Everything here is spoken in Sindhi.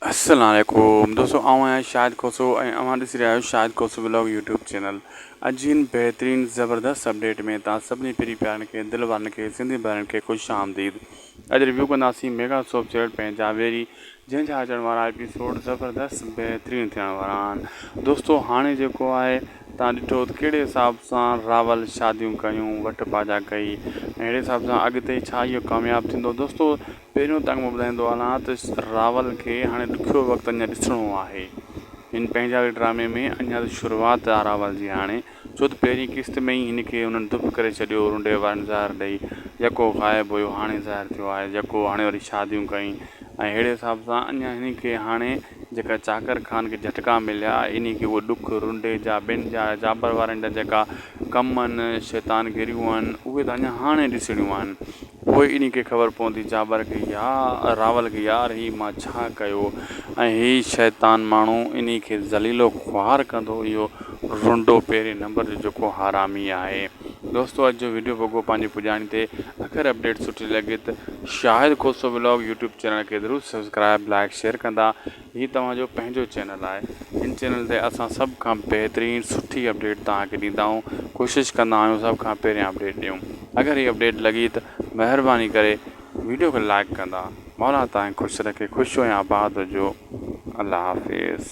السلام عليڪم دوستو آئون آهيان شاهد کوسو ۽ اوهان ڏسي رهيا آهيو Shahid Khoso vlog YouTube channel اڄ جي هن بهترين زبردست اپڊيٽ ۾ توهان سڀني پري پيارن کي دل وارن کي سنڌي ڀائرن کي خوش آمديد اڄ ريويو ڪنداسين ميگا سوپ چيرٽ پين جاويري جنهن جا اچڻ وارا ايپيسوڊ زبردست بهترين ٿيڻ وارا آهن دوستو هاڻي جيڪو آهي تان ڏٺو ته کيڙي حساب سان راول شاديون ڪيون وٽ پاجا ڪئي اهڙي حساب سان اڳتي ڇا اهو ڪامياب ٿيندو دوستو پهريون تنگ مان ٻڌائيندو هلان ته راول کي هاڻي ڏکيو وقت اڃا ڏسڻو آهي. هن پنهنجاوي ڊرامي ۾ اڃا ته شروعات آهي راول جي هاڻي، ڇو ته پهرين قسط ۾ ئي هن کي انهن دڦ ڪري ڇڏيو، رنڊي وارن زهر ڏئي، يڪو غائب هيو هاڻي ظاهر ٿيو آهي، يڪو هاڻي وري شاديون ڪئي ۽ ههڙي حساب سان اڃا هن کي هاڻي جيڪا چاڪر خان کي جهٽڪا مليا، انهي کي اهي ڏک، رنڊي جا، ٻين جا، جابر وارن جا جيڪا ڪم هن، شيطان گريون هن، اهي ته اڃا هاڻي ڏسڻيون آهن. پوء انهي کي خبر پوندي جابر کي يا راول کي يار هي مان ڇا ڪيو ۽ هي شيطان ماڻهو انهي کي ذليل و خوار ڪندو اهو رنڊو پهرين نمبر جو جيڪو حرامي آهي. دوستو اڄ جو ويڊيو وڳو پنهنجي پڄاڻي تي اگر اپڊيٽ سٺي لڳي ته Shahid Khoso vlog YouTube channel کي ضرور سبسڪرائب لائڪ شيئر ڪندا هي توهان جو پنهنجو چينل آهي هن چينل تي اسان سڀ کان بهترين سٺي اپڊيٽ توهان کي ڏيندا آهيون ڪوشش ڪندا آهيون سڀ کان پهريان اپڊيٽ ڏيون اگر هي اپڊيٽ لڳي ته مهرباني ڪري ويڊيو کي لائڪ ڪندا مولا توهان کي خوش رکي خوش هو ۽ آباد هجو الله حافظ